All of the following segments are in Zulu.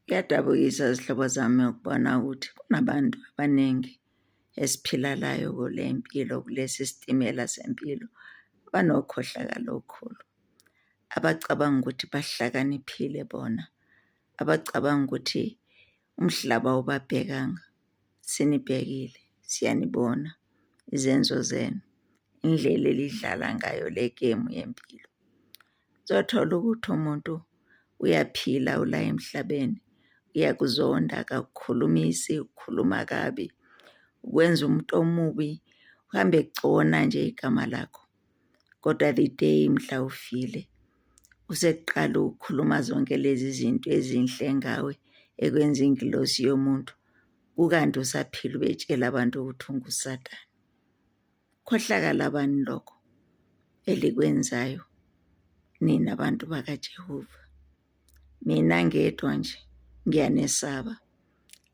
Kuyadabukisa zihlobo zami ukubona ukuthi kunabantu abaningi esiphila layo kule mpilo kulesi sitimela sempilo banokhohlakalo okukhulu. Abacabanga ukuthi bahlakaniphile bona, abacabanga ukuthi umhlaba ubabhekanga. Sinibhekile, siyanibona izenzo zenu, indlela elidlala ngayo le gemu yempilo. Uzothola ukuthi umuntu uyaphila ula emhlabeni, uyakuzonda akakukhulumisi, ukhuluma kabi, ukwenza umuntu omubi, uhambe egcona nje igama lakho. Kodwa the day mhla ufile usekuqala ukukhuluma zonke lezi zinto ezinhle ngawe ekwenza ingilosi yomuntu, kukanti usaphila ubetshela abantu ukuthi unguSathane. Khohlakala bani lokho elikwenzayo nina bantu bakaJehova. Mina ngedwa nje ngiyanesaba,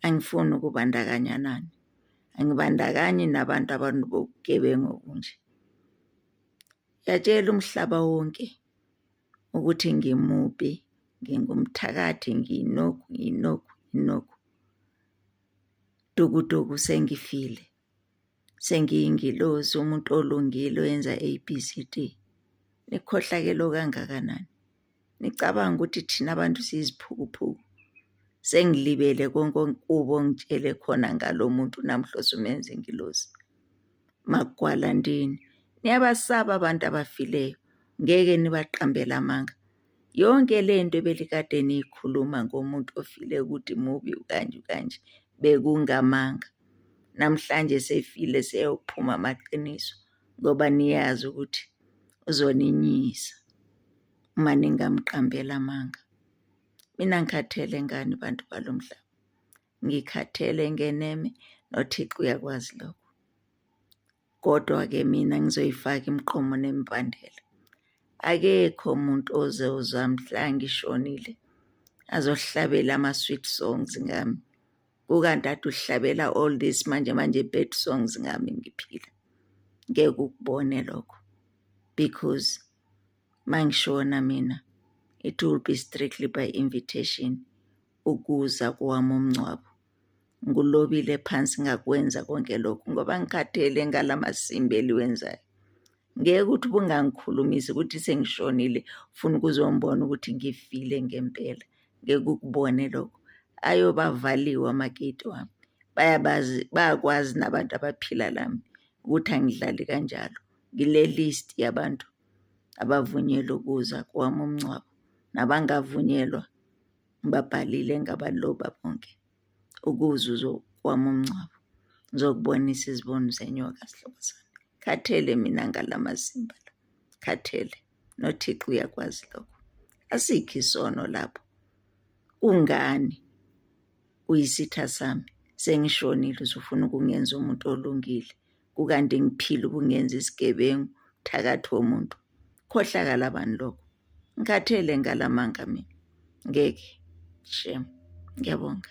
angifuni ukubandakanya nani, angibandakanyi nabantu abantu bobugebengu obunje. Yatshela umhlaba wonke ukuthi ngimubi, ngingumthakathi, nginoku, nginoku, nginoku. Dukuduku sengifile. sengiyingilozi umuntu olungile oyenza ABCD nikhohlakele okangakanani nicabanga ukuthi thina abantu siyiziphukuphuku sengilibele konke okubo ongitshele khona ngalo muntu namhla osumenza ingilozi magwala ndini niyabasaba abantu abafileyo ngeke nibaqambele amanga Yonke le nto ebelikade niyikhuluma ngomuntu ofile ukuthi mubi ukanje ukanje bekungamanga. Namhlanje sefile seyophuma amaqiniso ngoba niyazi ukuthi uzoninyisa uma ningamqambeli amanga. Mina ngikhathele ngani bantu balo mhlaba, ngikhathele ngeneme noThixo uyakwazi lokho. Kodwa-ke mina ngizoyifaka imiqomo nembandela. Akekho umuntu oze uzwa mhla ngishonile azohlabela ama-sweet songs ngami. Kukanti ade uhlabela all this manje manje bad songs ngami ngiphila. Ngeke ukubone lokho because mangishona mina it will be strictly by invitation ukuza kwami umngcwabo. Ngulobile phansi ngakwenza konke lokhu ngoba ngikhathele ngala masimbi eliwenzayo. Ngeke ukuthi ubungangikhulumisi ukuthi sengishonile funa ukuzombona ukuthi ngifile ngempela. Ngeke ukubone lokho. Ayobavaliwe amageti wami. Bayabazi bayakwazi nabantu abaphila lami ukuthi angidlali kanjalo. Ngile list yabantu abavunyelwe ukuza kwami umngcwabo nabangavunyelwa ngibabhalile ngabaloba bonke ukuze uzokwama umngcwabo ngizokubonisa iziboni zenyoka sihlobo sami khathele mina ngalamasimba la khathele nothixo uyakwazi lokho asikho isono lapho kungani uyisitha sami sengishonile uzofuna ukungenza umuntu olungile kukande ngiphile ubungenza isigebengu thakathi womuntu khohlakala bani lokho ngikhathele ngalamanga mina ngeke shem ngiyabonga